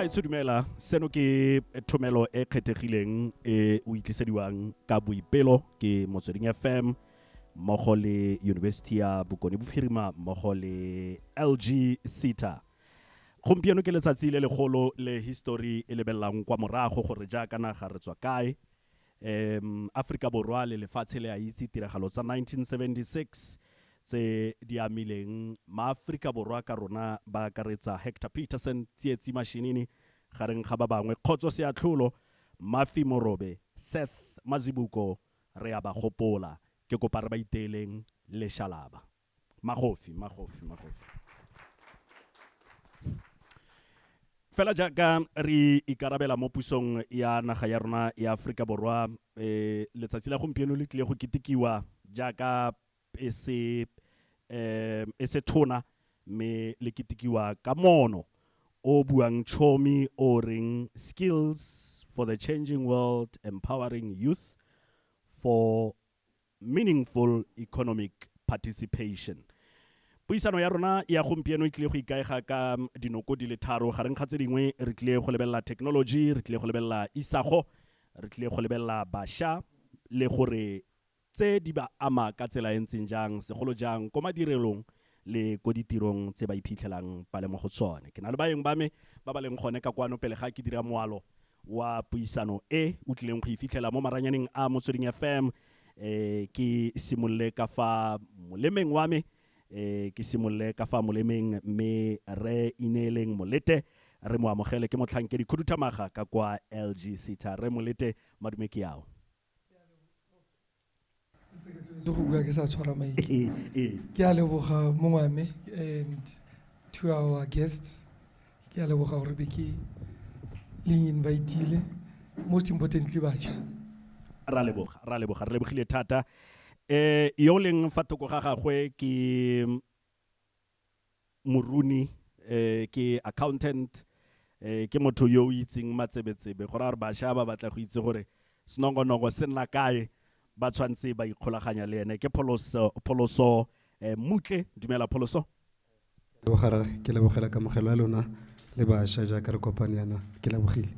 gaetsho dumela seno ke thomelo e kgethegileng e o itlisediwang ka boipelo ke motsweding fm mmogo le university ya bokone bophirima mmogo le lg ceta gompieno ke letsatsi le legolo le history e lebelelang kwa morago gore jaaka naga re tswa kae Um, Afrika Borwa le lefatshe le a itse tiragalo tsa 1976 tse di amileng Maaforika Borwa ka rona ba akaretsa Hector Pieterson, Tsietsi Mashinini, gareng ga ba bangwe, Kgotso Seatlholo, Mafi Morobe, Seth Mazibuko, re a ba gopola. Ke kopa re ba iteeleng leshalaba. Magofi, magofi, magofi. Fela jaaka re ikarabela mo pusong ya naga ya rona ya Aforika Borwa, letsatsi la gompieno le tlile go ketekiwa jaaka e se e se tona mme le ketekiwa ka moono o o buang chomi o o reng Skills for the Changing World, Empowering Youth for Meaningful Economic Participation. Puisano ya rona ya gompieno e tlile go ikaega ka dinoko di le tharo. Gareng ga tse dingwe, re tlile go lebelela thekenoloji, re tlile go lebelela isago, re tlile go lebelela bašwa le gore tse di ba ama ka tsela e ntseng jang, segolo jang ko madirelong le ko ditirong tse ba iphitlhelang ba le mo go tsone. Ke na le baeng ba me ba ba leng gone ka kwano pele ga ke dira moalo wa puisano e o tlileng go e fitlhela mo maranyaneng a motsweding fm eh ke simolole ka fa molemeng wa me eh ke simolole ka fa molemeng mme re ineeleng molete re mo amogele ke motlhankedi khuduthamaga ka kwa lg sitha re molete madume ke ao itse go bua ke sa tshwara mike ee, ee. ke a leboga mongwame and to our guests ke a leboga gore be ke leng invitile most importantly batšha ra leboga ra leboga re lebogile thata um yo leng fa thoko ga gagwe ke moruni um ke accountant um ke motho yo o itseng matsebetsebe go raya gore bašwa ba batla go itse gore senongonoko se nna kae ba tshwanetse ba ikgolaganya le ene ke pholoso pholoso um mmutle dumela pholoso lebogara ke lebogela kamogelo ya lona le bašwa jaaka re kopane yana ke lebogile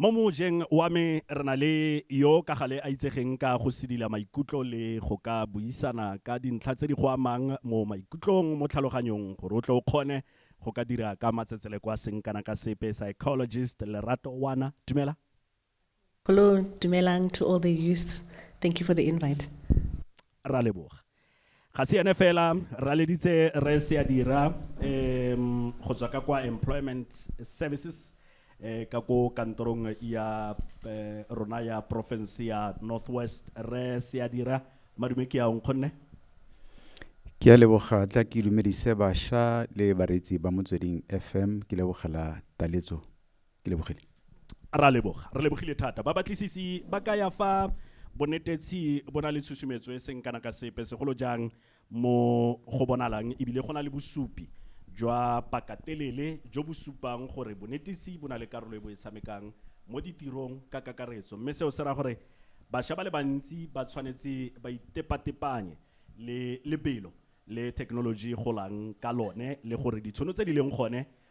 Mo mojeng wa me re na le yo ka gale a itsegeng ka go sidila maikutlo le go ka buisana ka dintlha tse di go amang mo maikutlong, mo tlhaloganyong gore o tle o kgone go ka dira ka matsetseleko a seng kana ka sepe, Psychologist Lerato Wana. Dumela. Hello, dumelang to all the youth. Thank you for the invite. Raleboga. Ga se ene fela, re laleditse Rre Seadira um go tswa ka kwa Employment Services um ka ko kantorong ya um rona ya porofense ya North West. Rre Seadira, madume ke a o nkgonne? Ke a leboga tla ke dumedise basha le bareetsi ba Motsweding FM ke lebogela taletso. ke lebogile ra leboga re lebogile thata ba batlisisi ba ka ya fa bonetetshi bo na le tshusumetso e seng kana ka sepe segolo jang mo go bonalang ebile go na le bosupi jwa pakatelele jo bo supang gore bonetisi bo na le karolo e bo e tshamekang mo ditirong ka kakaretso mme seo se ra gore bašwa ba le bantsi ba tshwanetse ba itepatepanye le lebelo le thekenoloji e golang ka lone le gore ditshono tse di leng gone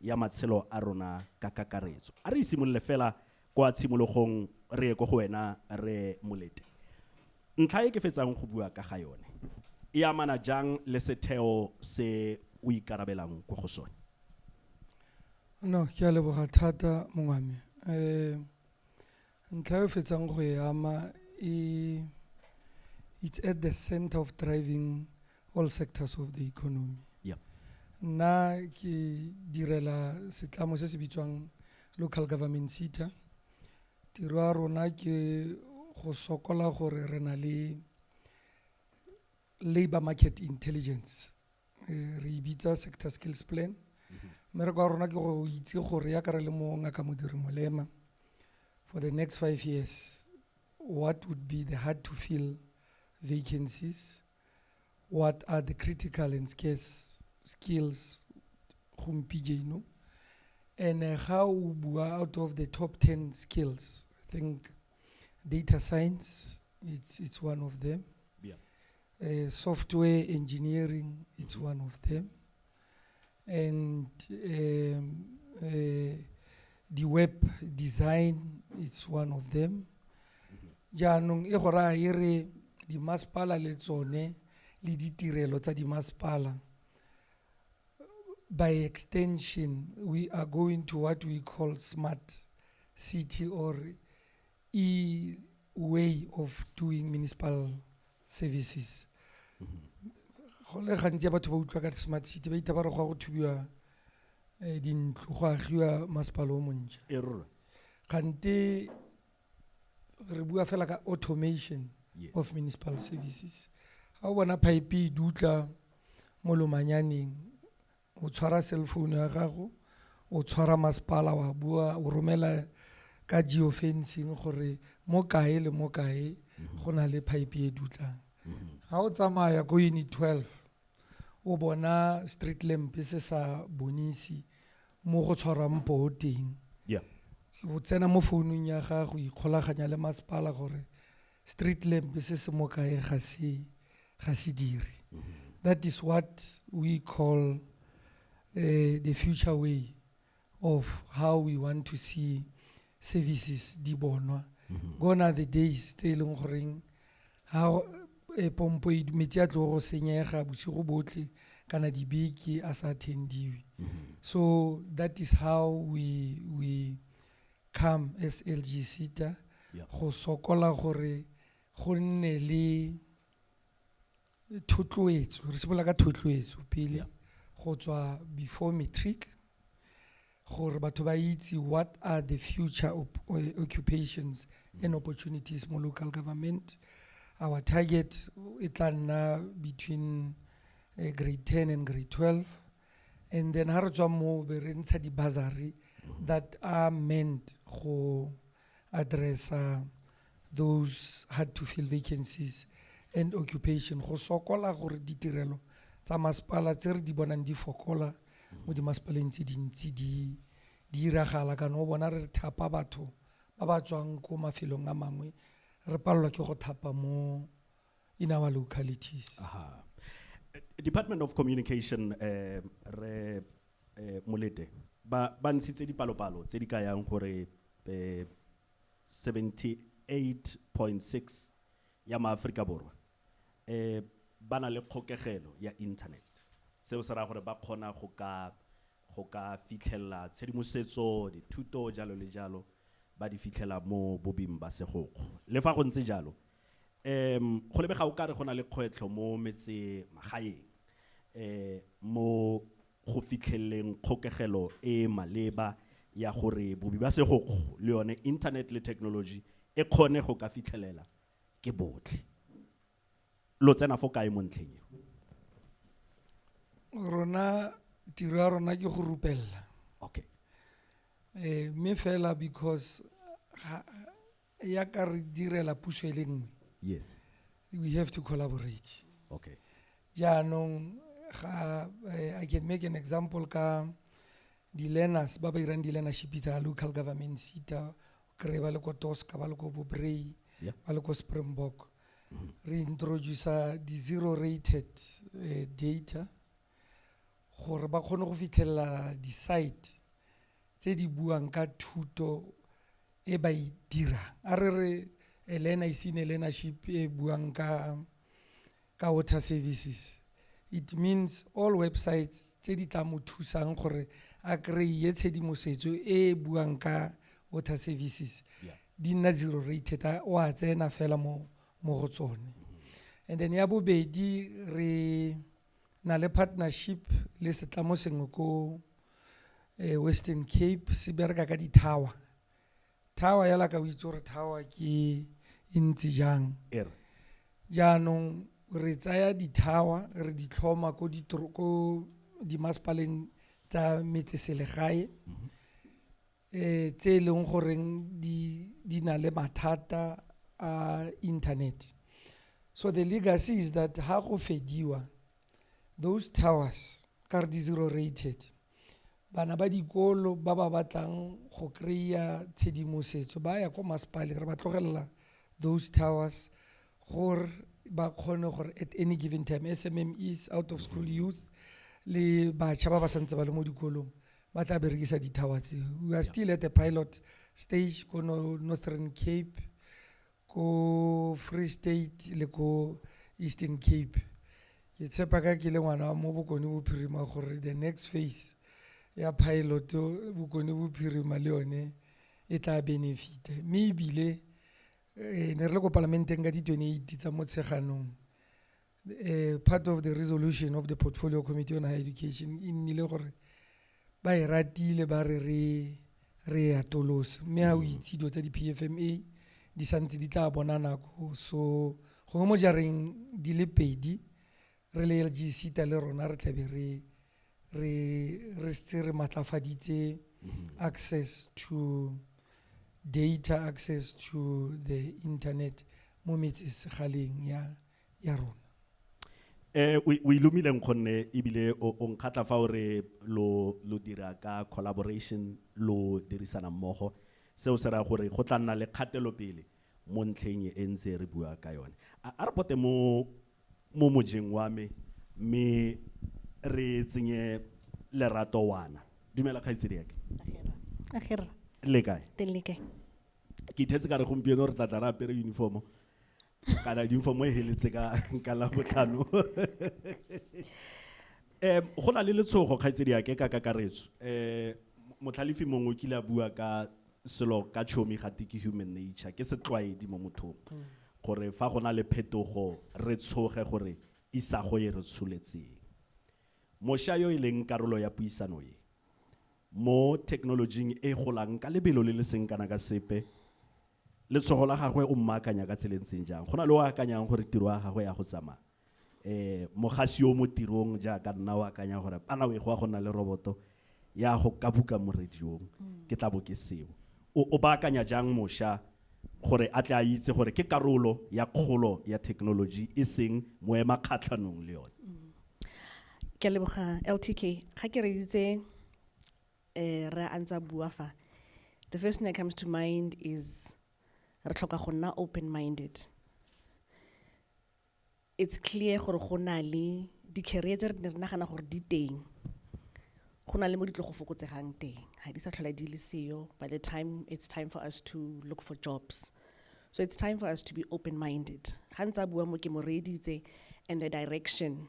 ya matshelo a rona ka kakaretso. A re isimolole fela kwa tshimologong re ye ko go wena re molete. Ntlha e ke fetsang go bua ka ga yone e amana jang le setheo se o ikarabelang ko go sone? No, ke a leboga thata mongwame. Um Ntlha e fetsang go e ama e it's at the center of driving all sectors of the economy. Yeah. Nna ke direla setlamo se se bitswang local government SETA. Tiro ya rona ke go sokola gore re na le labor market intelligence. Eh, re e bitsa sector skills plan mhm. mmereko wa rona ke go itse gore ya ka re le mo ngaka modiri molema for the next five years what would be the hard to fill vacancies what are the critical and scarce skills gompieno and uh, ga o bua out of the top 10 skills i think data science it's, it's one of them Uh, software engineering is one of them. And um, uh, the web design is one of them. Jaanong e go raya e re dimasepala le tsone le ditirelo tsa dimasepala by extension we are going to what we call smart city or e way of doing municipal services go le gantsi ya batho ba utlwa ka smart city ba itha ba re go ya go thubiwa um dintlo go agiwa masepala o montšha e rora kgante re bua fela ka automation Yes. of municipal services ga o bona pipe e dutla mo lomanyaneng o tshwara cell phone ya gago, o tshwara masepala wa bua, o romela ka geo fencing gore mo kae le mo kae mhm. go na le pipe e dutlang. Ha mhm. o tsamaya ko unit 12, o bona street lamp se sa bonisi mo go tshwarwang poo teng. Yeah. O tsena mo founung ya gago, ikgolaganya le masepala gore street lamp se se mo kae ga se ga se dire mm-hmm. that is what we call uh, the future way of how we want to see services di bonwa mm-hmm. gone are the days tse e leng goreng ga eh, pompo e metsi a tlo go senyega bosigo botlhe kana dibeke a sa attendiwe mm-hmm. so that is how we we Come SLGCTA go sokola gore go nne le thotloetso, re simolola ka thotloetso pele go tswa before matric gore batho ba itse what are the future occupations and opportunities mo local government. Our target e tla nna between eh, grade ten and grade twelve. and then ha re tswa moo be re ntsha di-bursary that are meant go addressa those hard to fill vacancies and occupation go sokola gore ditirelo tsa masepala tse re di bonang di fokola mo dimasepaleng tse dintsi di di iragala kana o bona re thapa batho ba ba tswang ko mafelong a mangwe re palelwa ke go thapa mo in our localities. Aha. Eh, Department of Communication eh re eh Molete ba ba ntshitse dipalopalo tse di ka yang gore eh 78.6 ya maAforika Borwa eh ba na le kgokegelo ya internet seo se raya gore ba kgona go ka go ka fitlhelela tshedimosetso dithuto jalo le jalo ba di fitlhela mo bobing ba segokgo le fa go ntse jalo Um, go lebega o kare go na le kgwetlho mo metse magaeng um mo go fitlheleleng kgokegelo e e maleba ya gore bobi ba segokgo le yone internet le technology e kgone go ka fitlhelela ke botlhe. Lo tsena fo kae mo ntlheng eo? rona tiro ya rona ke go rupelela Okay. eh mme fela because ga yaka re direla puso e le nngwe yes we have to collaborate okay jaanong ga eh, i can make an example ka di-learners ba ba irang di-learnership tsa local government sita kry ba le ko tosca ba le ko bobrey Yeah. ba le ko springbok re introducer di-zero rated eh, data gore ba kgone go fitlhelela di-site tse di buang ka thuto e ba e dirang a re re elena isine learnership e buang ka ka water services it means all websites tse di tla mo thusang gore a kry-e tshedimosetso e e buang ka water services yeah. di nna zero rated o a tsena fela mo mo go tsone and then ya bobedi re na le partnership le setlamo sengwe ko eh, western cape se bereka ka di-tower tower yala ka o itse gore tower ke e ntse jang Ere. jaanong re tsaya di-tower re di tlhoma ko ditoro- ko dimasepaleng tsa metseselegae um tse e leng goreng di na le mathata a inthanete so the legacy is that ha go fediwa those towers ka re di zero rated bana ba dikolo ba ba batlang go kry-a tshedimosetso ba ya ko masepaleng re ba tlogelela those towers gore ba kgone gore at any given time SMMEs out of school youth le bašwa ba ba santse ba le mo dikolong ba tla berekisa dithawa tse we are still at the pilot stage ko no- northern cape ko free state le ko eastern cape ke tshepa ka ke le ngwana wa mo bokone bophirima gore the next phase ya pilot bokone bophirima le yone e tla benefita mme ebile eh, ne re le ko palamenteng ka di-twenty-eight tsa motsheganong eh, part of the resolution of the portfolio committee on higher education e nnile gore ba e ratile ba re re re e atolose mme ga o mm. itse dilo tsa di-p f m a di santse di tla bona nako so gongwe mo jareng di le pedi re le lg sita le rona re tlabe re re re se re matlafaditse mm-hmm. access to data access to the internet mo metsesegaleng ya yeah. ya rona eh o ilumileng gonne ebile o nkgatla fa o re lo lo dira ka collaboration lo dirisana mmogo seo se raya gore go tla nna le kgatelopele mo ntlheng e ntse re bua ka yone a re pote mo mo mojeng wa me mme re tsenye lerato wana dumela kgaitsedi yake agera le kae teng le kae ke ithetse ka re gompieno re tla tla re apere uniformo kana uniform e heletse ka ka la botlhano um go na le letshogo kgaitsedi yake ka kakaretso um motlhalefi mongwe o kile a bua ka selo ka tshomi ga tiki human nature ke setlwaedi mo mothong gore fa go na le phetogo re tshoge gore isago e re tsholetseng mosha yo e leng karolo ya puisano e mo thekenolojing e golang ka lebelo le le seng kana ka sepe letshogo la gagwe o mmaakanya ka tsela e ntseng jang go na le o akanyang gore tiro ya gagwe ya go tsamaya um mogasi yo mo tirong jaaka nna o akanya gore ana we go ya go nna le roboto ya go ka buka mo radiong mm. ke tla bo ke seo o baakanya jang mosha gore a tle a itse gore ke karolo ya kgolo ya thekenoloji e seng moema kgatlhanong le yone mm. ke leboga ltk ga ke reditse eh, re a ntse a bua fa the first thing that comes to mind is re tlhoka go nna open minded it's clear gore go na le di-carrier tse re ne re nagana gore di teng go na le mo di tlo go fokotsegang teng ga di sa tlhola di le seyo by the time it's time for us to look for jobs so it's time for us to be open minded ga ntse a bua mo ke mo reeditse and the direction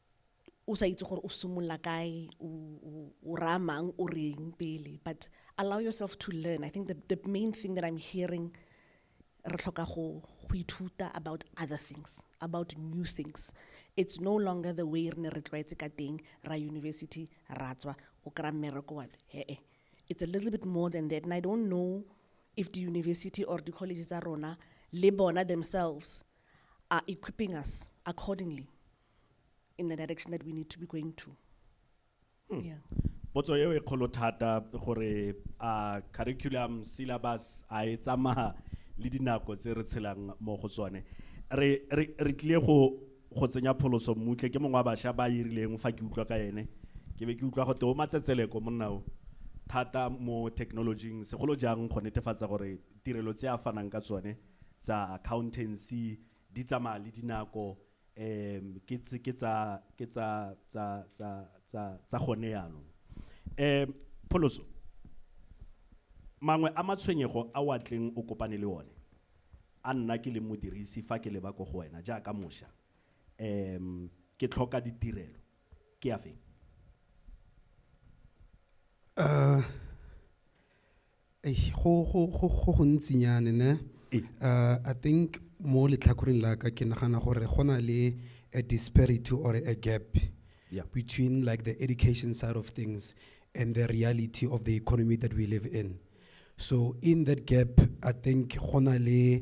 o sa itse gore o simolola kae o raya mang o reng pele but allow yourself to learn i think the, the main thing that i'm hearing re tlhoka go go ithuta about other things about new things it's no longer the way re ne re tlwaetse ka teng ra university ra tswa o kry-a mmereko wa hee it's a little bit more than that and i don't know if the university or the college tsa rona le bona themselves are equipping us accordingly in the direction that we need to be going to. Hmm. Yeah. potso eo e kgolo thata gore a curriculum syllabus a e tsamaya le dinako tse re tshelang mo go tsone re re re tlile go go tsenya pholoso mmutle ke mongwe wa bašwa ba irileng fa ke utlwa ka ene ke be ke utlwa go teo matsetseleko monna o thata mo technologing segolo jang go netefatsa gore tirelo tse a fanang ka tsone tsa accountancy di tsamaya le dinako um ke tse- ke tsa ke tsa tsa tsa tsa tsa gone yaanong um pholoso mangwe a matshwenyego a o a tleng o kopane le one a nna ke le modirisi fa ke leba ko go wena jaaka mošwa um ke tlhoka ditirelo ke a feng Uh, Eish, go go go go gontsinyane ne Ee. uh, i think mo letlhakoreng la ka ke nagana gore go na le a disparity or a gap Yeah. between like the education side of things and the reality of the economy that we live in so in that gap i think go na le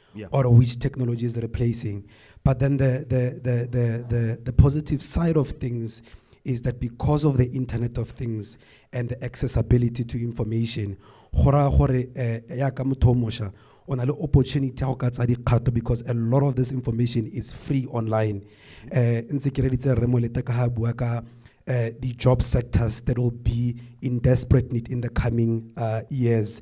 yeah. or which technology is replacing. But then the, the, the, the, the, the positive side of things is that because of the Internet of Things and the accessibility to information, gora gore eh, ya ka motho mosha o na le opportunity ya go ka tsa dikgato because a lot of this information is free online eh ntse ke reditse re mo leta ka ha bua ka eh, the job sectors that will be in desperate need in the coming uh, years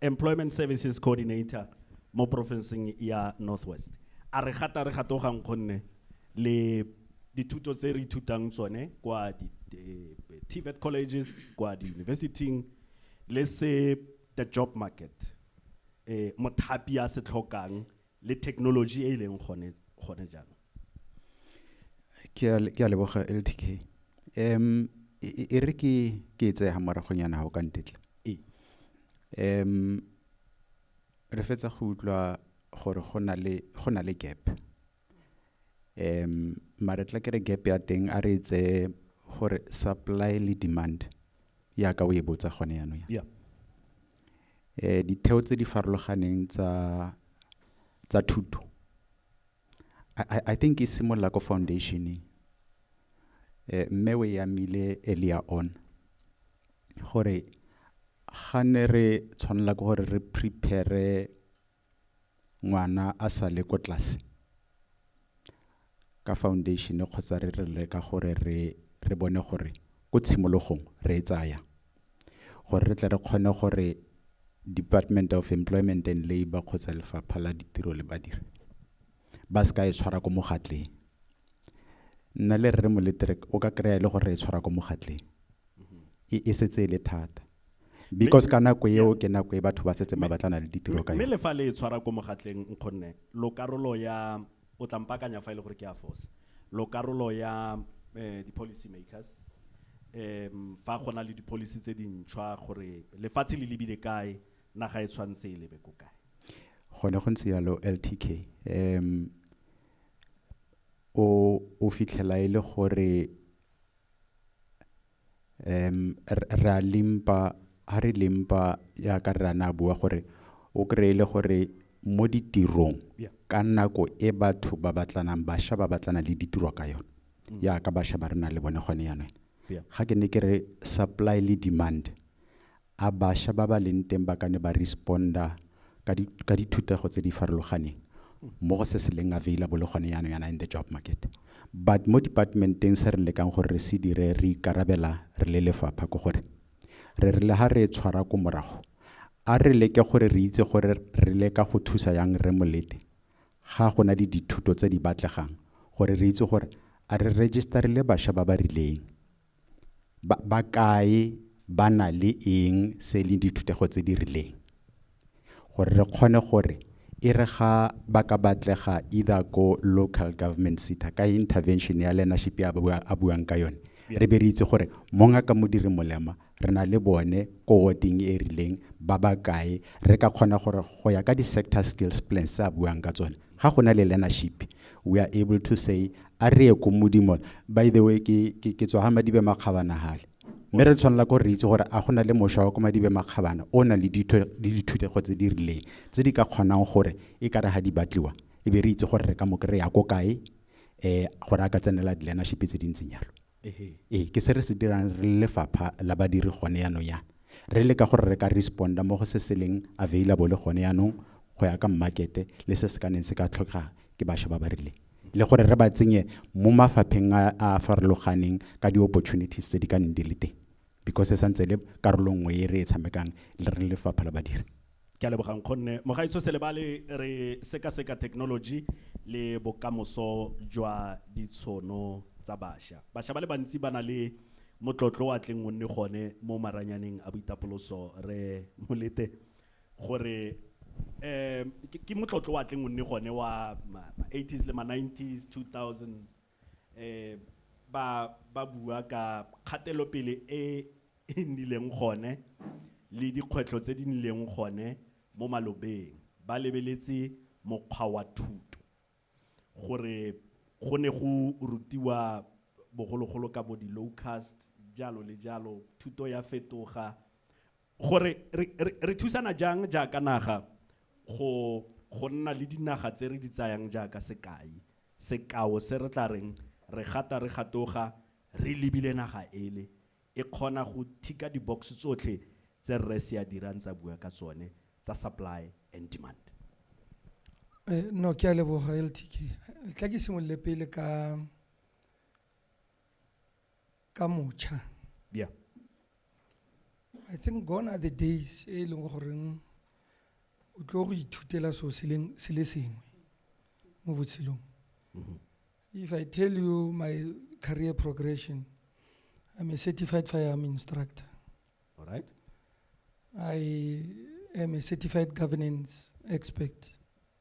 Employment Services Coordinator mo porofenseng ya North West. A re gata re gatogang gonne le dithuto tse re ithutang tsone kwa di TVET colleges kwa di university-ing le se the job market eh mothapi a se tlhokang le thekenoloji e e leng gone gone jaanong ke a ke a leboga LTK em e re ke ke e tsaya moragonyana ga o ka ntetla ee em re fetsa go utlwa gore go na le go na le gap um mare tla kere gap ya teng a re tse gore supply le demand yaka o e botsa gone yanong yeah. eh ditheo tse di farologaneng tsa tsa thuto I, I think e simolola ko foundationeng eh mme o yamile earlier on gore ga ne re tshwanela ke gore re prepare ngwana a sa le ko tlase ka foundation kgotsa re re leka gore re re bone gore ko tshimologong re e tsaya gore re tle re kgone gore department of employment and labour kgotsa lefapha la ditiro le badiri ba se ka e tshwara ko mogatleng nna le rre moletere o ka kry-a e le gore re e tshwara ko mogatleng e e setse e le thata because ka nako eo ke nako e batho ba setseng ba batlana le ditiro ka mme yone le fa le e tshwara ko mogatleng nkgonne lo karolo ya o tla mpakanya fa e le gore ke a fosa lo karolo ya eh, di-policy makers um fa go na le di-policy tse dintšhwa gore lefatshe le lebile kae naga e tshwanetse e lebe ko kae gone go ntse yalo ltk um o o fitlhela e le gore re a limp-a ha re limp-a yaka rre a ne a bua gore o kry-e e le gore mo ditirong ka nako e batho ba batlanang bašwa ba batlana le ditiro ka yone yaka bašwa ba re nang le bone gone yanong ga ke ne ke re supply le demand a basha ba ba leng teng ba ka ne ba responder ka di ka dithutego tse di farologaneng mo go se se leng available gone yaanong yana in the job market but mo departmenteng se re lekang gore re se dire re ikarabela re le lefapha ko gore re re le ha re e tshwara ko morago a re leke gore re itse gore re leka go thusa yang re molete ga gona di dithuto tse di batlegang gore re itse gore a re register le basha ba ba rileng Ba kae, ba na le eng, se leng dithutego tse di rileng. Gore re kgone gore, e re ga ba ka batlega either ko local government SETA, ka intervention ya learnership ya a buang ka yone, re be re itse gore mongaka Modiri Molema, re na le bone ko ward-ing e rileng, ba ba kae, re ka kgona gore go ya ka di-sector skills plans tse a buang ka tsone, ga go na le learnership we are able to say a re ye ko modimo by the way ke ke ke tswa ga madibe makgabana gale mme re tshwanela ko re itse gore a go na le mošwa wa ko madibe makgabana o na le ditho- le dithutego tse di rileng tse di ka kgonang gore e ka re ga di batliwa e be re itse gore re ka mo kry-a ko kae um gore a ka tsenela di-learnership tse di ntseng jalo ee ke se re se dirang re le lefapha la badiri gone yaanong yana re le ka gore re ka responda mo go se se leng available gone yaanong go ya ka mmakete le se se ka neng se ka tlhokega ke bašwa ba ba rileng le gore re ba tsenye mo mafapheng a a farologaneng ka di-opportunities tse di ka neng di le teng because e santse le karolo nngwe e re e tshamekang le re lefapha la badiri ke a lebogang kgonne mogaitso selebale re sekaseka technology le bokamoso jwa ditshono tsa basha basha ba le bantsi ba na le motlotlo wa tleng o nne gone mo maranyaneng a boitapoloso re molete gore um ke motlotlo wa tleng o nne gone wa ma-80s le ma-90s 2000s e ba ba bua ka kgatelopele e e nnileng gone le dikgwetlho tse di nnileng gone mo malobeng, ba lebeletse mokgwa wa thuto, gore go ne go rutiwa bogologolo ka bo di-locusts, jalo le jalo, thuto ya fetoga. Gore re thusana jang jaaka naga go go nna le dinaga tse re di tsayang jaaka sekai, sekao se re tla reng re gata re gatoga re lebile naga ele e kgona go thika di-box tsotlhe tse Rre Seadira a ntse a bua ka tsone tsa supply and demand. No, ke a leboga LTK. Tla ke simolole pele ka ka mocha yeah i think gone are the days e leng goreng o tlo go ithutela so se le sengwe mo botshelong mm-hmm. if i tell you my career progression i'm a certified firearm instructor all right i am a certified governance expert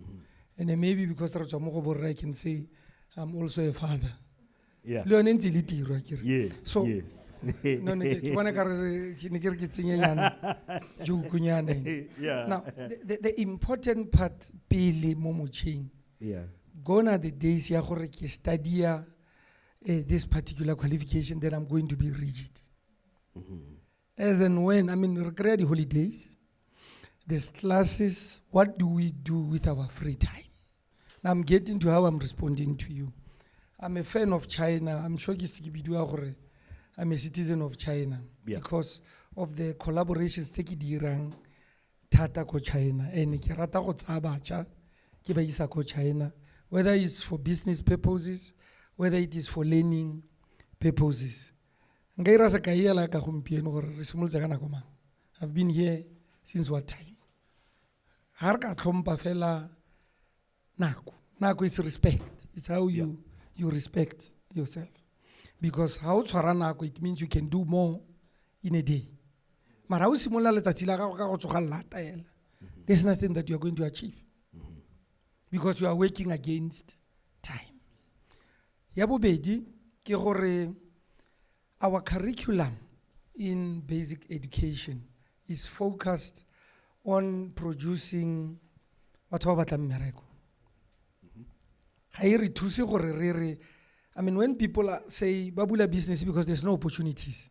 Mm. And then maybe because re tswa mo go borre I can say I'm also a father. Yeah. Le yone ntse le tiro a kere. Yes. So yes. no ne ke bona ka re ke ne ke re ke tsenyenyana jokunyane Yeah. now the, the, the important part pele mo motšheng Yeah. gone are the days ya gore ke studia eh, this particular qualification then i'm going to be rigid As and when, I mean, re kry-a di-holidays, there's classes, what do we do with our free time? Now I'm getting to how I'm responding to you. I'm a fan of China. I'm sure ke se ke bidiwa gore I'm a citizen of China Yeah. because of the collaborations tse ke di dirang thata ko China. And ke rata go tsaya bacha ke ba isa ko China whether it's for business purposes, whether it is for learning purposes. nka ira sekai ela ka gompieno gore re simolotse ka nako mang i've been here since what time ga re ka tlhompa fela nako nako is respect it's how you yeah. you respect yourself because ga o tshwara nako it means you can do more in a day mara o simolola letsatsi la gago ka go tsoga lata ela mm-hmm. there's nothing that you are going to achieve mm-hmm. because you are working against time Ya bobedi ke gore our curriculum in basic education is focused on producing batho ba batlang mmereko ga e re thuse gore re re i mean when people are, say ba bula business because there's no opportunities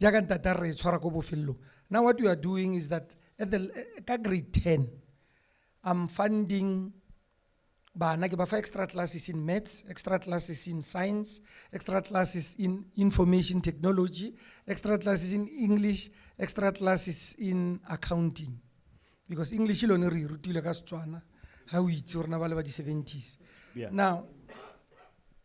jaaka ntate a re e tshwara ko bofelelong now what you are doing is that at the, ka grade 10 i'm funding bana ke ba fa extra classes in maths extra classes in science extra classes in information technology extra classes in english extra classes in accounting because english e lone re e rutile ka setswana ga o itse rona ba le ba di-70s Yeah. now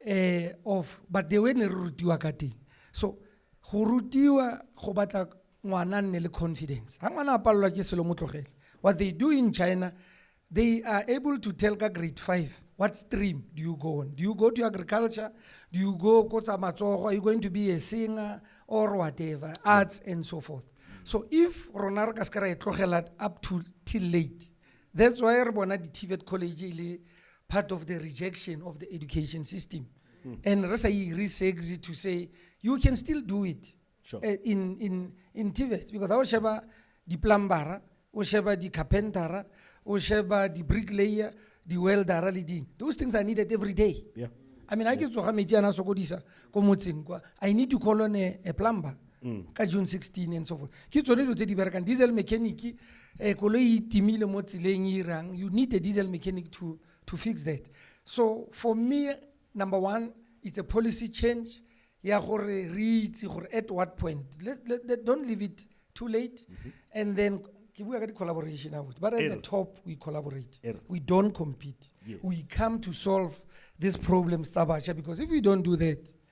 eh of but the way ne re rutiwa ka teng so go rutiwa go batla ngwana a nne le confidence ga ngwana a palelwa ke selo mo tlogele what they do in china they are able to tell ka grade five what stream do you go on do you go to agriculture do you go ko tsa matsogo are you going to be a singer or whatever arts and so forth so if rona re ka se ka ra e tlogela up to till late that's why re bona di-tvet college e le part of the rejection of the education system mm. and re sa e re to say you can still do it sure. uh, in, in, in TVET because our sheba the plumber o sheba the carpenter o sheba the bricklayer the welder le ding those things are needed every day yeah. i mean i ke tsoga metsi ana sokodisa ko motseng kwa i need to call on a, a plumber mm. ka june 16 and so forth ke tsone dilo tse di berekang diesel mechanic um eh, koloi e timile mo tseleng e irang you need a diesel mechanic to, to fix that so for me number one it's a policy change ya gore re itse gore at what point let, let, let, don't leave it too late mm -hmm. and then ke bua ka di-collaboration abuti but at the top we collaborate we don't compete yes. we come to solve these problems tsa bašwa because if we don't do that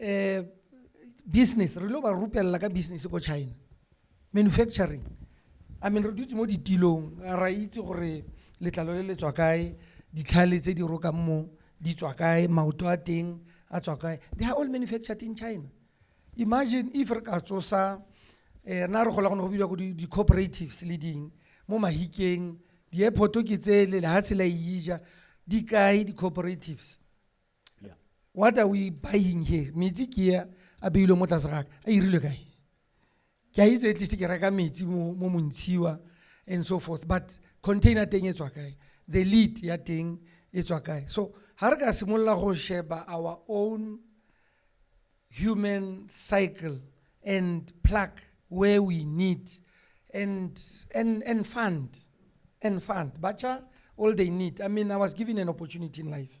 um business re lo ba rupelela ka business ko china manufacturing i mean re dutse mo ditilong ra itse gore letlalo le le tswa kae ditlhale tse di rokang mo di tswa kae maoto a teng a tswa kae they are all manufactured in china imagine if re ka tsosa eh na re gola go ne go bidiwa ko di- di-cooperatives le ding mo mahikeng di-airport ke tsele lehatshe la e ija di kae di-cooperatives yeah. what are we buying here metsi ke a a beilwe mo tlase gaka a irilwe kae ke a itse at least ke reka metsi mo montshiwa and so forth but container teng e tswa kae the lead ya teng e tswa kae so ga re ka simolola go sheba our own human cycle and pluck where we need and, and, and fund and fund bacha all they need i mean i was given an opportunity in life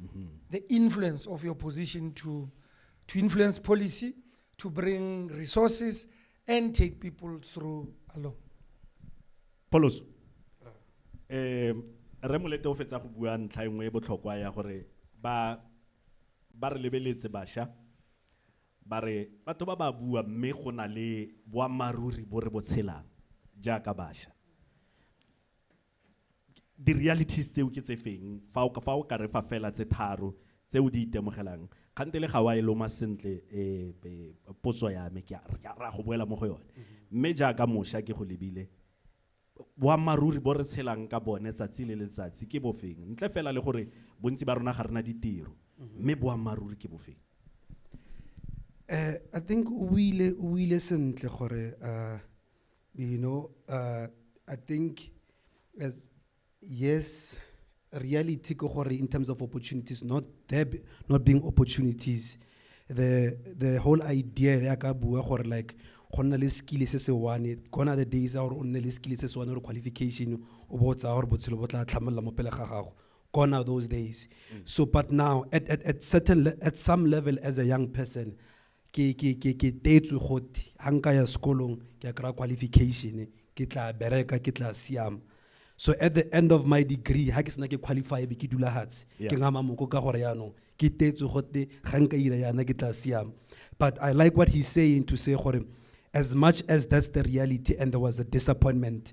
mm-hmm. the influence of your position to to influence policy to bring resources and take people through along Polos eh re molete o fetsa go bua ntlha engwe e botlhokwa ya gore ba ba re lebeletse basha ba re batho ba ba bua mme go na le boammaaruri bo re botshelang jaaka basha di-realities tseo ke tse feng fa o fa o ka re fa fela tse tharo tse o di itemogelang kgante le ga wa e loma sentle eh, eh, potso ya me ke a re- ke a ra go boela mo go yone mme jaaka mosha ke go lebile boammaaruri bo re tshelang ka bone tsatsi le letsatsi ke bofeng ntle fela le gore bontsi ba rona ga rena ditiro mme boammaaruri ke bofeng Eh, I think o buile o buile sentle gore uh, You know, uh, I think as yes, reality in terms of opportunities, not there be, not being opportunities. The the whole idea ya ka bua gore like go nna le skill se se one gona the days or o nne le skill se se one or qualification o bo tsa gore botshelo bo tla tlhamolola mo pele ga gago gone are those days mm. so but now at, at, at certain at some level as a young person ke ke ke ke tetswe gote ha nka ya sekolong ke kry qualification ke tla bereka ke tla siama so at the end of my degree ha ke sena ke qualify be ke dula hatshe yeah. ke ngama moko ka gore yaanong ke tetswe gote ga nka ira yana ke tla siama but i like what he's saying to say gore as much as that's the reality and there was a disappointment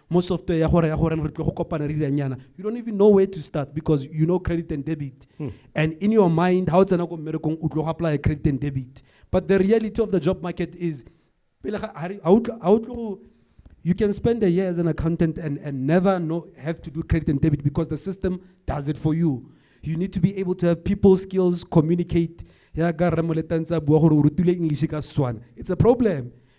mo software ya gore ya gore re tlo go kopana re diranyana you don't even know where to start because you know credit and debit hmm. and in your mind how o tsena ko mmerekong o tlo go apply credit and debit but the reality of the job market is pele ga ha o you can spend a year as an accountant and, and never know, have to do credit and debit because the system does it for you. You need to be able to have people skills, communicate. It's a problem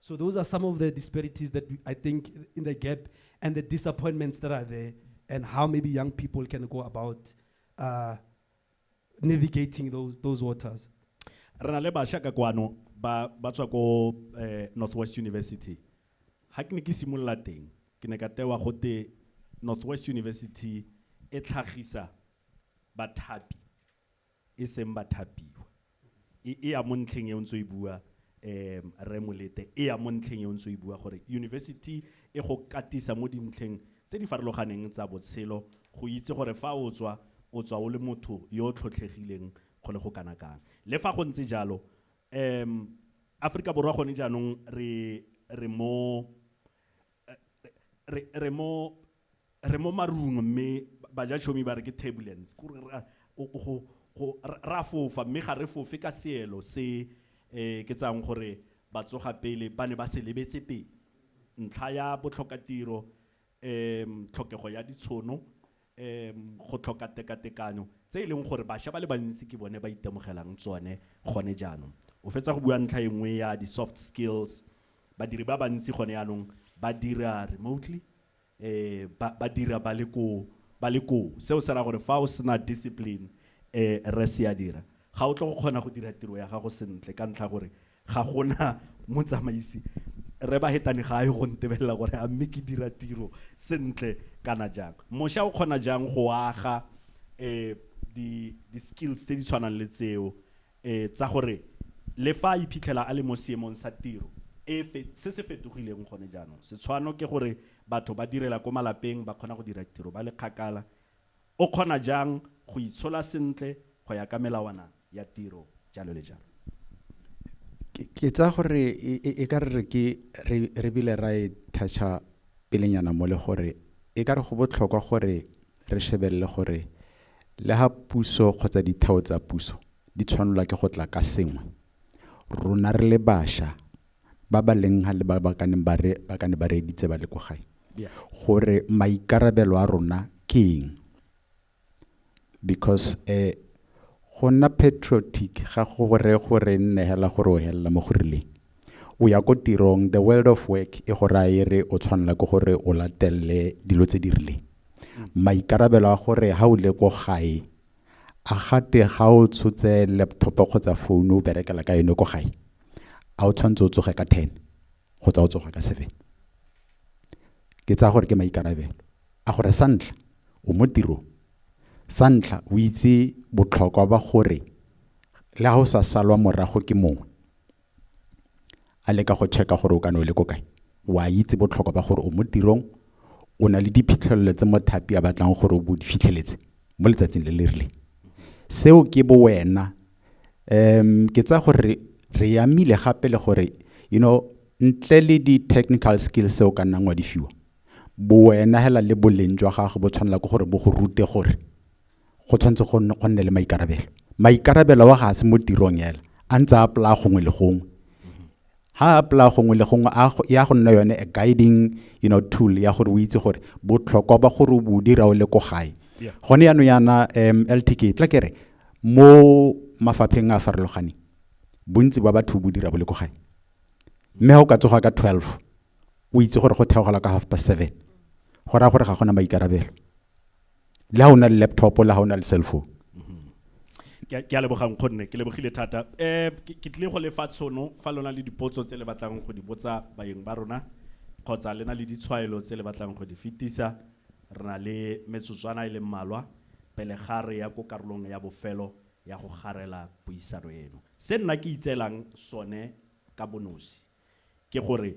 So those are some of the disparities that we, I think in the gap and the disappointments that are there, and how maybe young people can go about uh, navigating those those waters. re na le bašwa ka kwano ba ba tswa ko eh, northwest university ga ke ne ke simolola teng ke ne ka tewa gote northwest university e tlhagisa bathapi e seng bathapiwa. E, e ya mo ntlheng e o ntse o e bua um Rre Molete, e ya mo ntlheng e o ntse o e bua gore university e go katisa mo dintlheng tse di farologaneng tsa botshelo, go itse gore fa o tswa, o tswa o le motho yo o tlhotlhegileng go le go kana kang. Le fa go ntse jalo, um Aforika Borwa gone jaanong re, re mo, re re mo re mo marung mme bajatshomi ba re ke turbulence kore ra go go ra fofa mme ga re fofe ka seelo se um ke tsayang gore batsoga pele ba ne ba se lebetse pele ntlha ya botlhokatiro um tlhokego ya ditshono go tlhoka tekatekanyo, tse e leng gore bašwa ba le bantsi ke bone ba itemogelang tsone gone jaanong. O fetsa go bua ntlha e nngwe ya di-soft skills, badiri ba bantsi gone jaanong ba dira remotely, ba dira ba le ko, ba le koo. Seo se raya gore fa o sena discipline, Rre Seadira, ga o tle go kgona go dira tiro ya gago sentle ka ntlha ya gore ga gona motsamaisi re ba hetane ga a ye go ntebelela gore a mme ke dira tiro sentle kana jang mosha o kgona jang go aga eh di di skills tse di tshwanang le tseo eh tsa gore le fa a iphitlhela a le mo seemong sa tiro e se se fetogileng gone jaanong setshwano ke gore batho ba direla ko malapeng ba kgona go dira tiro ba le kgakala O kgona jang go itshola sentle go ya ka melawana ya tiro, jalo le jalo. Ke tsaya gore e ka re ke re bile ra e thatšha pelenyana mo le gore e ka re go botlhokwa gore re shebelele gore le ha puso kgotsa ditheo tsa puso di tshwanelwa ke go tla ka sengwe, rona re le basha ba ba leng ha le ba ba ka neng ba re ba ka ne ba reeditse ba le kwa gae Yeah. gore maikarabelo a rona ke eng because eh go nna patriotic ga go gore gore nne hela gore o helela mo go rileng o ya ko tirong the world of work e go raya e re o tshwanela ke gore o latelele dilo tse di rileng maikarabelo a gore ha o le ko gae a gate ga o tshotse laptop kgotsa phone o berekela ka yone ko gae a o tshwanetse o tsoge ka ten kgotsa o tsoga ka seven ke tsaya gore ke maikarabelo a gore sa ntlha o mo tirong sa ntlha o itse botlhokwa ba gore le ga o sa salwa morago ke mongwe a leka go check-a gore o kana o le ko kae wa itse botlhokwa ba gore o mo tirong o na le diphitlhelelo tse mothapi a batlang gore o bo di fitlheletse mo letsatsing le le rileng seo ke bo wena um ke tsaya gore re- re yamile gape le gore you know ntle le di-technical skills seo ka nnang wa di fiwa bo wena hela le boleng jwa gago bo tshwanela ke gore bo go rute gore go tshwanetse go nne- go nne le maikarabelo maikarabelo wa ga a se mo tirong ela a ntse a polaya gongwe le gongwe ha a polaya gongwe le gongwe a go- ya go nna yone a guiding you know, tool ya gore o itse gore botlhokwa ba gore o bo o dira o le ko gae Yeah. gone yaanong yana um ltk tla kere mo mafapheng a a farologaneng bontsi ba batho bo dira bo le ko gae mme ga o ka tsoga ka 12 o itse gore go theogela ka half past seven go raya gore ga gona maikarabelo le ha o na le laptop le ha o na le cell phone ke a lebogang kgonne ke lebogile thata um ke tlile go lefa tshono fa lona le dipotso tse le batlang go di botsa bayeng ba rona kgotsa le na le ditshwaelo tse le batlang go di fetisa re na le metsotswana e le mmalwa pele ga re ya ko karolong ya bofelo ya go garela puisano eno se nna ke itseelang sone ka bonosi ke gore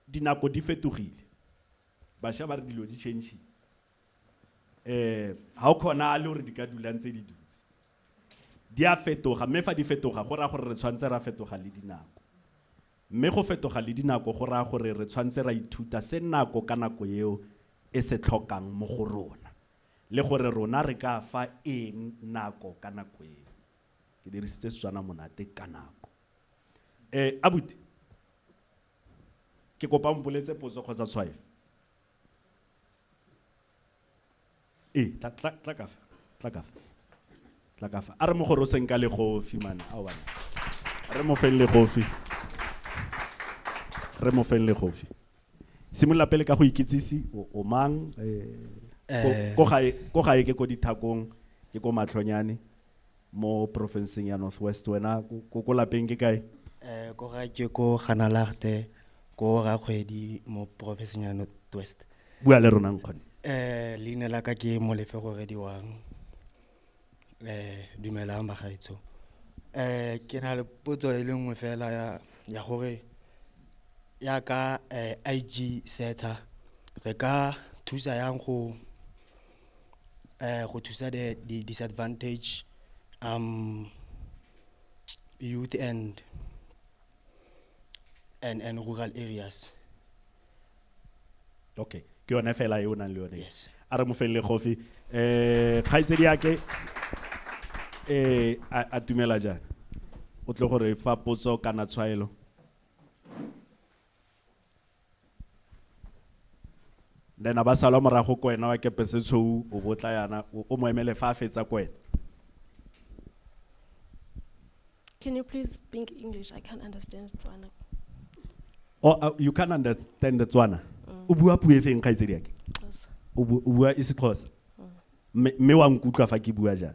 Dinako di fetogile. Basha ba re dilo di change-ile. Ga go kgonale gore di ka dula ntse di dutse. Di a fetoga, mme fa di fetoga go raya gore re tshwanetse ra fetoga le dinako. Mme go fetoga le dinako go raya gore re tshwanetse ra ithuta se nako ka nako eo e se tlhokang mo go rona, le gore rona re ka fa eng nako ka nako eo. Ke dirisitse Setswana monate ka nako. Eh, abuti, ke kopa o mpoletse potso kgotsa tshwaelo. Ee, tla, tla, tla ka fa, tla ka fa, tla ka fa. A re mo goroseng ka legofi, man, aowa. Re mo feng legofi. Re mo feng legofi. Simolola pele ka go ikitsise, o, o mang, eh, ko, Eh. ko gae, ko gae ke ko dithakong, ke ko matlhonyane, mo porofenseng ya north west wena ko ko lapeng ke kae eh ko ga ke ko ganalagte ko ga kgwedi mo porofenseng ya north west bua le rona nkgone eh leina la ka ke molefe go rediwang eh dumelang bagaetsho eh ke na le potso e le nngwe fela ya ya gore ya ka eh, IG Seta re ka thusa yang go uh, go thusa the, the disadvantage um youth and and and rural areas okay ke yone fela e o nang le yone yes a re mo felele gofi um kgaitsedi yake um a tumela jang o tle gore fa potso kana tshwaelo then ba salwa morago ko wena wa kepese tshou o botla yana o mo emele fa a fetsa ko wena Can you please speak English? I can't understand Tswana. Oh, uh, you can't understand Tswana. Mm. O bua puo e feng kgaitsedi yake? O bua isixhosa. Mm. Mme wa nkutlwa fa ke bua jang?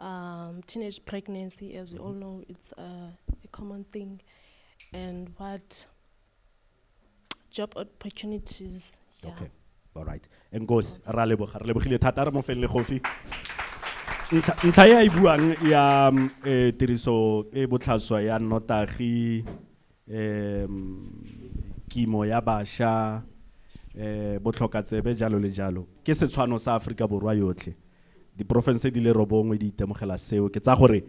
Um, teenage pregnancy, as we all know, it's uh, a common thing. And what job opportunities. Yeah. Okay. All right. And goes, ra leboga, re lebogile thata re mo felle gofi. Ntlha ya e buang ya um, eh, tiriso e botlhaswa ya notagi um kimo ya basha um botlhokatsebe jalo le jalo ke setshwano sa aforika borwa yotlhe diporofense di le robongwe di itemogela seo ke tsa gore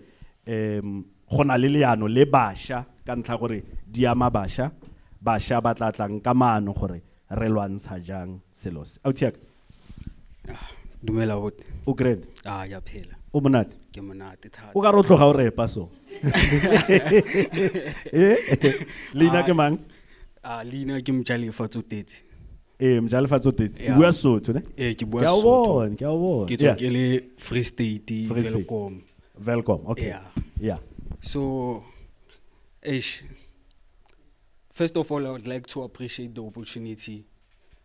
um go na le leano le basha ka ntlha gore di ama basha basha ba tla tlang ka maano gore re lwantsha jang selo se dumela bote o great a ya phela o monate ke monate thata o ka re tloga o repa so eh? leina ke mang a leina ke mjalefa tsotetse ee eh, mjalefa tsotetse o bua sotho ne ee eh, ke bua sotho ke a bona ke tswa ke le free state velcom velcom okay yeah so eish first of all i would like to appreciate the opportunity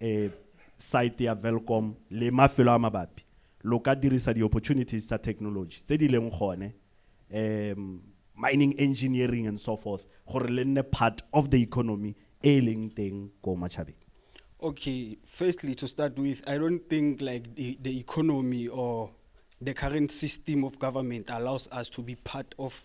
um site ya Welkom le mafelo a mabapi, lo ka dirisa di-opportunities tsa technology tse di leng gone, um mining engineering and so forth, gore le nne part of the economy e e leng teng ko Matšhabeng. Okay, firstly to start with, I don't think like the, the economy or the current system of government allows us to be part of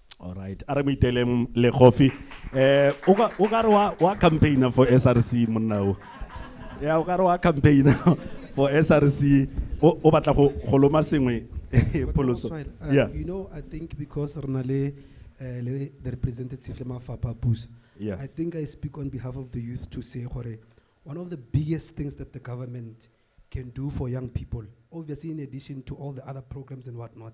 All right. A re mo iteleng le coffee. Eh, o ka o ka re wa wa campaigner for SRC monna o. Ya o ka re wa campaigner for SRC. O o batla go go loma sengwe pholoso. But Oswald, uh, Yeah. You know, I think because re na le, eh, le the representative le mafapha a puso, Yeah. I think I speak on behalf of the youth to say gore one of the biggest things that the government can do for young people, obviously in addition to all the other programs and whatnot,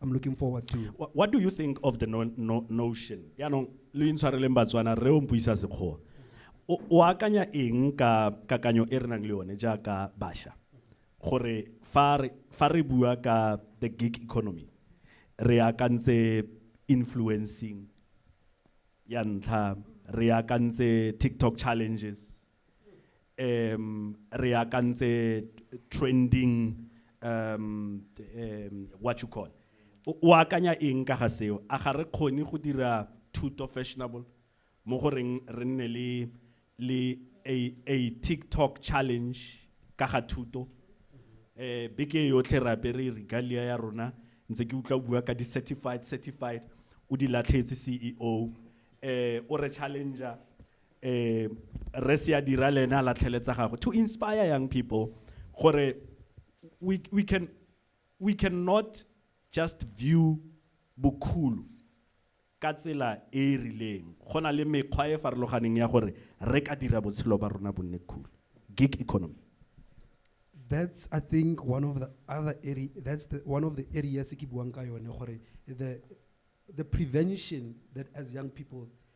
I'm looking forward to. What, what do you think of the no, no, notion? Yaanong lo intshwareleng Batswana re o mpuisa sekgoa. O akanya eng ka kakanyo e re nang le yone jaaka basha? Gore fa re fa re bua ka the gig economy re akantse influencing ya ntlha re akantse TikTok challenges um re akantse trending um um what you call o o akanya eng ka ga seo a ga re kgone go dira thuto fashionable mo go reng re nne le le a, a tiktok challenge ka ga thuto eh beke e yotlhe re apere regalia ya rona ntse ke utlwa o bua ka di-certified certified o di latlhetse ceo eh o re challenger eh re se a dira le ene a latlheletsa gagwe to inspire young people gore we, we can we cannot just view bokhulu ka tsela e e rileng go na le mekgwa e farologaneng ya gore re ka dira botshelo ba rona bonne cool gig economy that's i think one of the other area that's the one of the areas ke buang ka yone gore the the prevention that as young people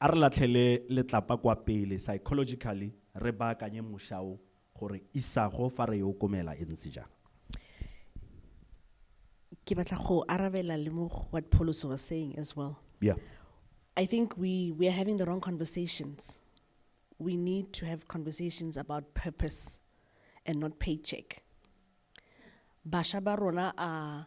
A re latlhele letlapa kwa pele, psychologically, re baakanye mosha o gore isago fa re e okomela e ntse jaana. Ke batla go arabela le mo what Pholoso was saying as well. Yeah. I think we, we are having the wrong conversations. We need to have conversations about purpose and not paycheck. Basha ba rona a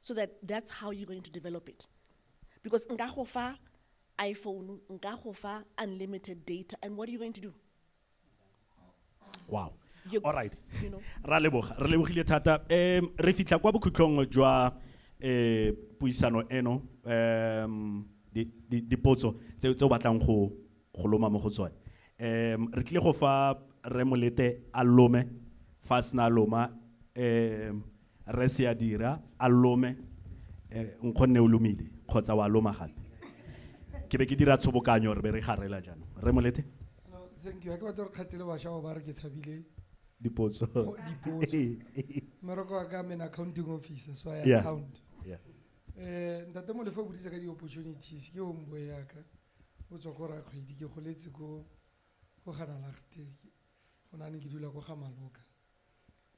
so that that's how you're going to develop it because nka go fa iphone nka go fa unlimited data and what are you going to do wow you, all right you know ra leboga re lebogile thata um re fitlha kwa bokhutlong jwa um puisano eno um dipotso tse tse o batlang go go loma mo go tsone um re tlile go fa re molete a lome fa sena loma um Rre Seadira, A lome, e, nkgonne o lomile, kgotsa wa loma gape? Ke be ke dira tshobokanyo re be re garela jaanong. Rre Molethe? No, thank you. Ha ke batla gore kgathele basha ba ba re ke tshabile Dipotso. go- dipotso. Mmereko wa ka mena accounting officer, so I Yeah. account. Yeah. Eh, ntate Molefe o boditse ka di-opportunities, ke homeboy ya ka. O tswa ko Rakgwedi, ke goletse ko ko Ganalagte, ke- go na ne ke dula ko ga Maloka.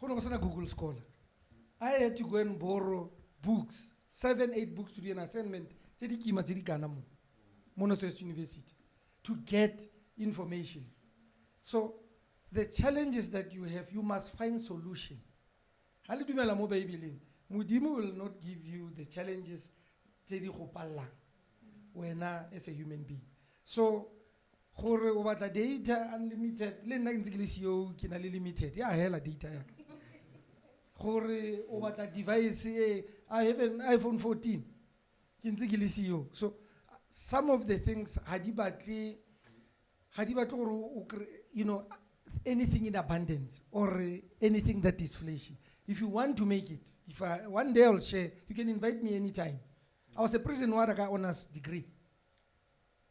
Go ne go sena Google Scholar. I had to go and borrow books, seven, eight books to do an assignment tse di kima tse di kana mo, mo Northwest University, to get information. So the challenges that you have, you must find solution. Ha le dumela mo Bibeleng, Modimo will not give you the challenges tse di go pallang wena as a human being. So gore o batla data unlimited le nna ke ntse ke le ceo ke na le limited ya hela data ya gore o batla device e i have an iphone 14 ke ntse ke le ceo so some of the things ga di batle ga di batle gore o you know anything in abundance or anything that is flashy if you want to make it if I, one day i'll share you can invite me anytime i was a prison warder ka honors degree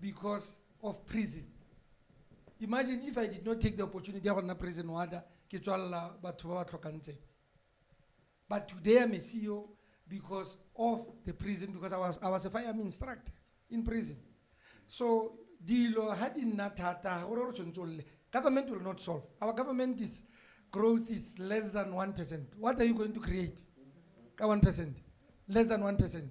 because of prison imagine if i did not take the opportunity ya go nna prison warder ke tswalela batho ba ba tlhokang tsebe but today i'm a ceo because of the prison because i was, I was a firearm instructor in prison so dilo ha di nna thata ga gore re tshwanetse o lle government will not solve our government is growth is less than 1 percent what are you going to create ka 1 percent less than 1 percent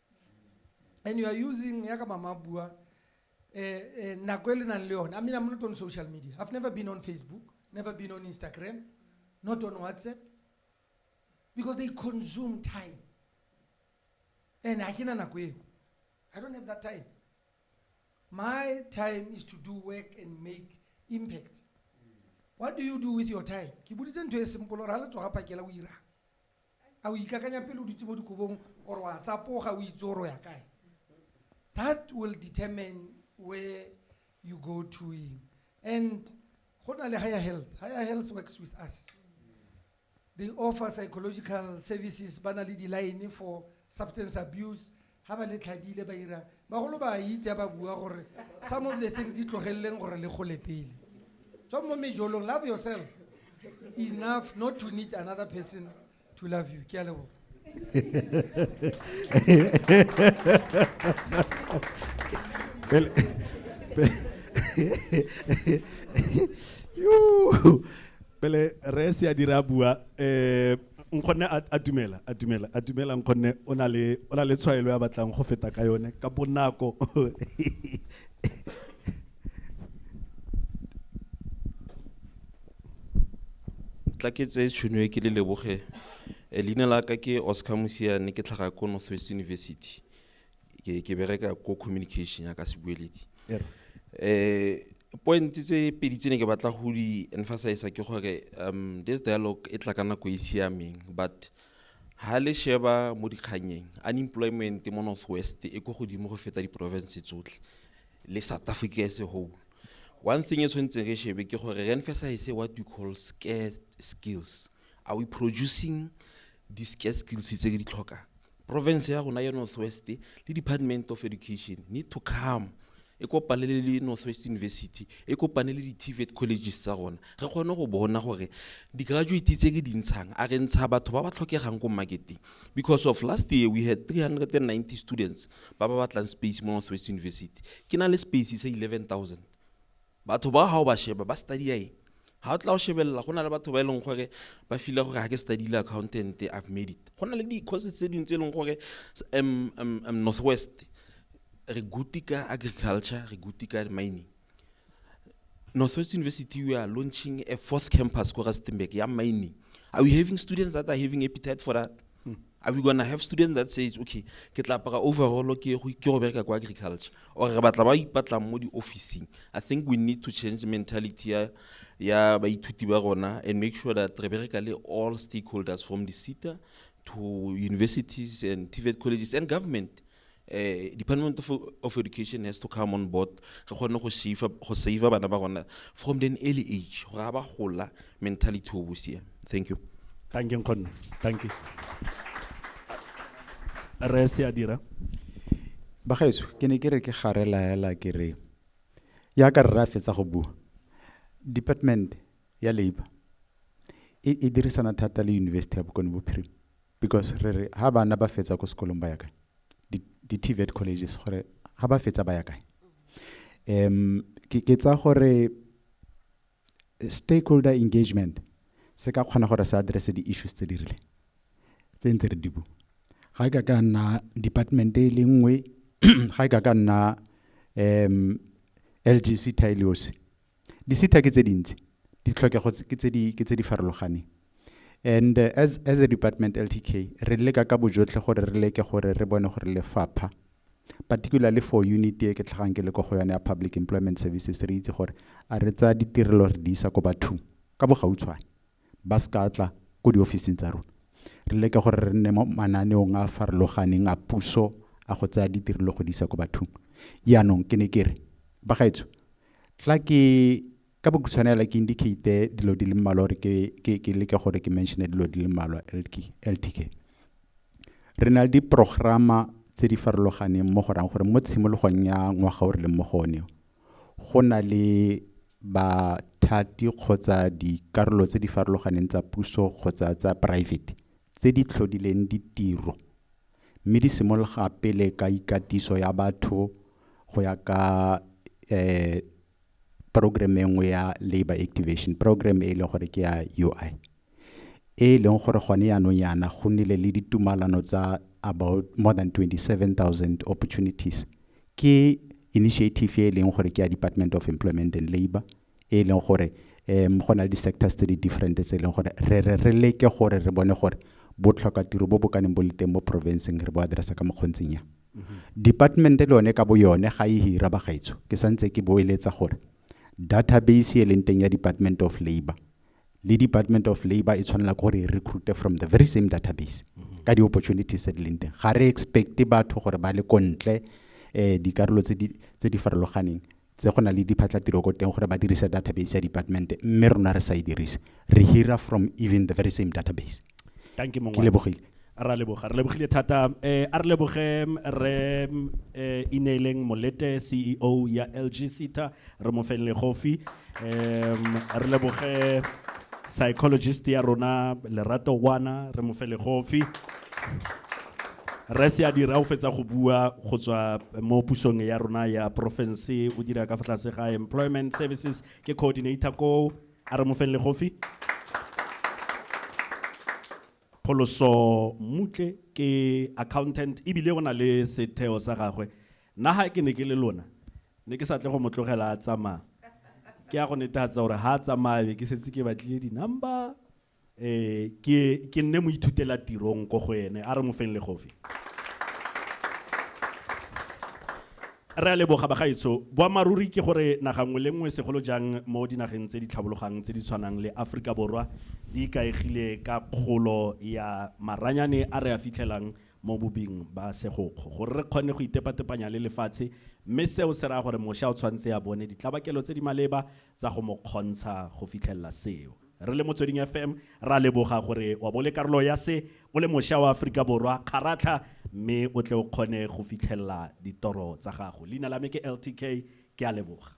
and you are using ya ka mama bua eh, eh, nako e le nang le yone i mean i'm not on social media i've never been on facebook never been on instagram not on whatsapp because they consume time and ha ke na nako eo i don't have that time my time is to do work and make impact what do you do with your time ke boditse ntho e simple gore ga le tsoga phakela o irang A o ikakanya pele o dutse mo dikobong or wa tsapoga o itse or o ya kae? That will determine where you go to eng. And go na le Higher Health, Higher Health works with us. They offer psychological services, ba na le di-line for substance abuse, Ha ba le tlhadile ba ira, bagolo ba a itse ha ba bua gore some of the things di tlogeleleng gore le gole pele. Tswang mo mejolong, love yourself enough not to need another person to love you. Ke a leboga. Pele- pe- Yoo. pele re se a dira bua eh nkgonne a dumela a dumela a dumela nkgonne o na le o na le tshwaelo ya batlang go feta ka yone ka bonako tla ke tse tšhono e ke le leboge eh, leina la ka ke oscar mosiane ke tlhaga ko northwest university ke ke bereka ko communication ya ka sebueledi Ere. eh point tse pedi tse ne ke batla go di emphasize ke gore um this dialogue e tla ka nako e e siameng but ha le sheba mo dikganyeng unemployment mo northwest e ko godimo go feta di-province tsotlhe le south africa as a whole one thing e tshwanetseng re shebe ke gore re emphasize what we call scare skills are we producing di-scare skills tse re di tlhokang Porofense ya rona ya North West le Department of Education need to come e kopane le le North West University, e kopane le di-TVET colleges tsa rona. Re kgone go bona gore di-graduate tse re di ntshang, a re ntsha batho ba ba tlhokegang ko market-eng. Because of last year we had 390 students ba ba batlang space mo North West University, ke na le space sa 11,000. Batho ba ga o ba sheba ba study-a eng? Ga o tla o shebelela go na le batho ba e leng gore ba fila gore ga ke study-ile accountant I've made it. Go na le di-courses tse dingwe tse e leng gore North West re good ka agriculture, re good ka mining. North West University we are launching a fourth campus ko Rustenburg ya mining. Are we having students that are having appetite for that? are we gonna have student that says okay ke tla apara overall ke go ke go bereka kwa agriculture or re batla ba ipatlang mo di-officing i think we need to change mentality ya ya baithuti ba rona and make sure that re bereka le all stakeholders from the cita to universities and tvet colleges and government eh, department of, of education has to come on board re kgone go save go save bana ba rona from an early age gore ga ba gola mentality o bosia thank you thank you nkgonne thank you re se a dira bagaetso ke ne ke re ke gare laela ke re yaka rra fetsa go bua department ya labor e, e dirisana thata le university ya bokone bophirima because re re ha bana ba fetsa ko sekolong ba ya kae di-tvet colleges gore ha ba fetsa ba ya kae um ke ke tsa gore stakeholder engagement se ka kgona gore se address di-issues tse di rile tse ntse re di bu ga e ka ka nna department e le nngwe ga e ka ka nna um lgc tailiosi Disita ke tse dintsi, ditlhokego ke tse di, ke tse di farologaneng. And uh, as, as a department LTK, re leka ka bojotlhe gore re leke gore re bone gore lefapha, particularly for unit e ke tlhagang ke le ko go yone ya public employment services, re itse gore a re tsaya ditirelo re di isa ko bathong ka bogautshwane. ba se ka tla ko diofising tsa rona re leke gore re nne mo mananeong a farologaneng a puso a go tsaya ditirelo go di isa ko bathong yaanong ke ne ke re ba gaetsho tla ke ka bokhutshwane fela ke indicate dilo di le mmalwa gore ke, ke, ke leke gore ke mentione dilo di le mmalwa LK- ltk re na le diprograma tse di farologaneng mo go rang gore mo tshimologong ya ngwaga o re leng mo go one o, Go na le bathati kgotsa dikarolo tse di farologaneng tsa puso kgotsa tsa poraefete tse di tlhodileng ditiro mme di simologa pele ka ikatiso ya batho go ya ka um progerama e nngwe ya labour activation, progerama e e leng gore ke ya UI. e e leng gore gone jaanong jaana go nnile le ditumalano tsa about more than 27,000 opportunities. Ke initiative e e leng gore ke ya Department of Employment and Labour, e e leng gore go na le di-sectors tse di different tse e leng gore re re re leke gore re bone gore botlhokatiro bo bo ka neng bo le teng mo porofenseng re bo address-a ka mokgwa o ntseng jang. Department-e le yone ka bo yone ga e hira bagaetsho, ke santse ke boeletsa gore database e leng teng ya Department of Labour, le department of labour e tshwanela ke gore e recruite from the very same database ka di-opportunities tse di leng teng ga re expecte batho gore ba le ko ntle um dikarolo tse di- tse di farologaneng tse go na le diphatlhatiro ko teng gore ba dirise database ya department mme rona re sa e dirise re hira from even the very same database thank you ke lebogile ra leboga re lebogile thata um a re leboge re um ineeleng molete ceo ya lg sita re mo feng legofi um re leboge psychologist ya rona lerato wana re mo fe legofi rese a dira o fetsa go bua go tswa mo pusong ya rona ya porofense o dira ka fa tlase ga employment services ke coordinator ko A re mo feng legofi. Pholoso Mmutle ke accountant e bile o na le setheo sa gagwe. Nna ga ke ne ke le lona, ne ke sa tle go mo tlogela a tsamaya. Ke ya go netefatsa gore ga a tsamaya be ke setse ke batlile di-number e ke ke nne mo ithutela tirong ko go ene a re mo feng legofi re a leboga bagaetsho boammaaruri ke gore naga nngwe le nngwe segolo jang mo dinageng tse di tlhabologang tse di tshwanang le aforika borwa di ikaegile ka kgolo ya maranyane a re a fitlhelang mo bobing ba segokgo gore re kgone go itepatepanya le lefatshe mme seo se raya gore mosha o tshwanetse a bone ditlabakelo tse di maleba tsa go mo kgontsha go fitlhelela seo. Re le Motsweding FM, re a leboga gore wa bo o le karolo ya se, o le mosha wa Aforika Borwa, kgaratlha mme o tle o kgone go fitlhelela ditoro tsa gago. Leina la me ke LTK, ke a leboga.